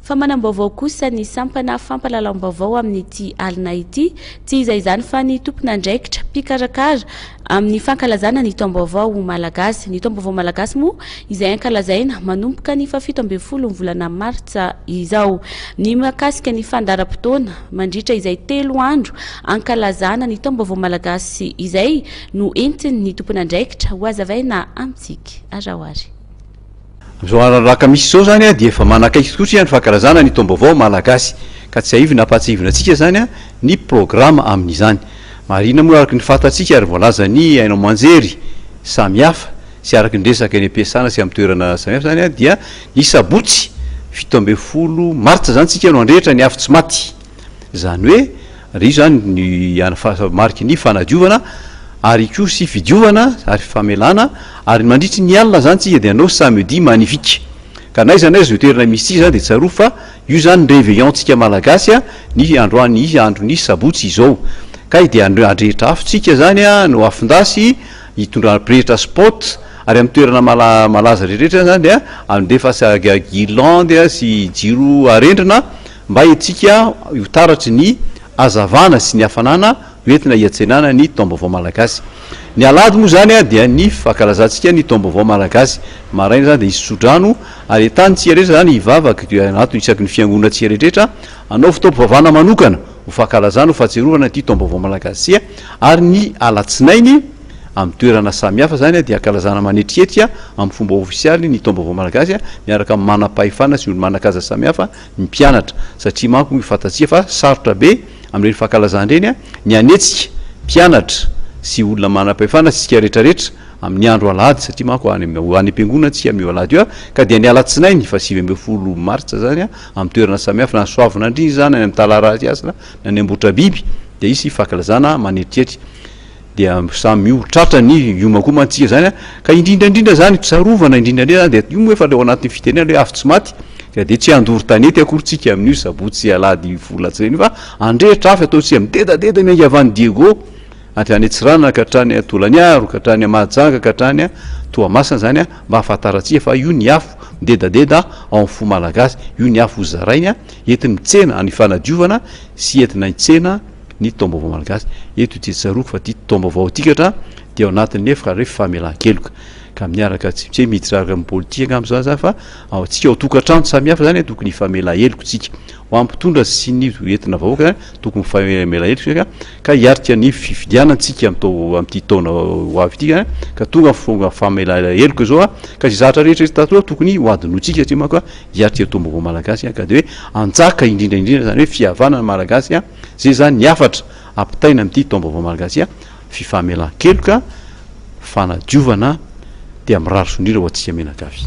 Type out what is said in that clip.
Fa manam-baovao kosa ny sampana fampahalalam-baovao amin'ity alina ity, tsy iza izany fa ny tompon'andraikitra mpikarakara amin'ny fankalazana ny taom-baovao malagasy. Ny taom-baovao malagasy moa izay ankalazaina manomboka ny fahafito ambin'ny folo ny volana martsa izao. Ny mahakasika ny fandaharam-potoana mandritra izay telo andro ankalazana ny taom-baovao malagasy izay no entin'ny tompon'andraikitra hohazavaina amintsika. Araho ary. Amin'izao andro misy izao izany dia efa manakaiky tokoa isika ny fankalazana ny taom-baovao malagasy, ka tsiahivina hampahatsiahivina antsika izany ny programa amin'izany. Marihina moa araka ny fantatsika ary voalazan'ny haino aman-jery samihafa sy araka ny resaka eny am-piasana sy amin'ny toerana samihafa izany dia ny sabotsy fito ambin'ny folo martsa izany isika no handrehitra ny afo tsy maty, izany hoe, Ary io zany ny an fa mariky ny fanadiovana ary koa sy fidiovana ary famelana ary mandritry ny alina zany tsika de anao samedi magnifique ka n'aiza n'aiza zao toerana misy tsika zany de tsarovy fa io zany reveillon tsika malagasy an ny androany ny andro ny sabotsy izao kay de an adrehitra afo tsika zany an no afondasy hitondra pretra spot ary am toerana mala malaza rehetra zany dia andefa sa ga guirlande sy jiro arendrina Mba hentsika ho taratry ny hazavana sy ny hafanana ho entina hiantsenana ny Taom-baovao Malagasy. Ny Alahady moa izany dia ny fankalazantsika ny Taom-baovao Malagasy. Maraina izany dia hisy tsodrano ary entanintsika rehetra izany hivavaka dia anato isaky ny fiangonantsika rehetrarehetra hanaovy taom-pivavahana manokana ho fankalazana, ho fahatsiarovana ity Taom-baovao Malagasy ity ary ny Alatsinainy amin'ny toerana samihafa izany dia hankalazana manetrihetrika amin'ny fomba ofisialy ny Taom-baovao Malagasy miaraka amin'ny manam-pahefana sy olo-manan-kaja samihafa ny mpianatra satria manko moa fantatsika fa sarotra be amin'ireny fankalazana ireny ny hanetsika mpianatra sy olona manam-pahefana sy isika rehetra rehetra amin'ny andro alahady satria manko any am-piangonana isika amin'io alahady io ka dia ny alatsinainy fa sivy ambin'ny folo martsa izany amin'ny toerana samihafa na ny Soavinandriana izany any amin'ny Talarasy Hasina na ny Ambohitrabiby dia hisy fankalazana manetrihetry dia samy miova, tratra ny hioma koa mantsy isika izany an, ka indrindra indrindra izany fisarovana indrindra indrindra izany dia io moa efa ilay ao anatin'ny fitenenana hoe avy tsy maty ka dia tsy handoro tanety akory isika amin'io sabotsy sy alahady volatsy ireny fa handrehitra afo ataontsika midedadeda ny angavan'i Diego avy any Antsiranana ka hatrany Tolaniaro ka hatrany Mahajanga ka hatrany Toamasina izany an mba hahafantarantsika fa io ny afo midedadeda ao amin'ny fo malagasy io ny afo hozarainy an entina mitsena any fanadiovana sy entina hitsena ny taom-baovao malagasy. Eto dia tsaroako fa ity taom-baovao ity katra dia ao anatin'ny efra re famelan-keloka. Ka miaraka tsy tsy miditra araka amin'ny politika angamba izany izany fa ao antsika ao tokantrano samihafa izany e, tokony hifamela heloka isika. Ho an'ny mpitondra sy ny entina vahoaka izany tokony hifamela heloka isika ka hiaritra ny fifidianana antsika amin'itao amin'ity taona ho avy ity ka tonga ny famelana heloka izao ka izay zahatra rehetra eto tatoa tokony hohadinointsika satria manko dia aty atoa baovao malagasy an ka dia hoe hanjaka indrindra indrindra zany hoe fihavanana ny malagasy an zay zany ny hafatra ampitaina amin'ity taom-baovao malagasy an fifamelan-keloka fanadiovana dia mirary soa indrindra ho antsika menagavy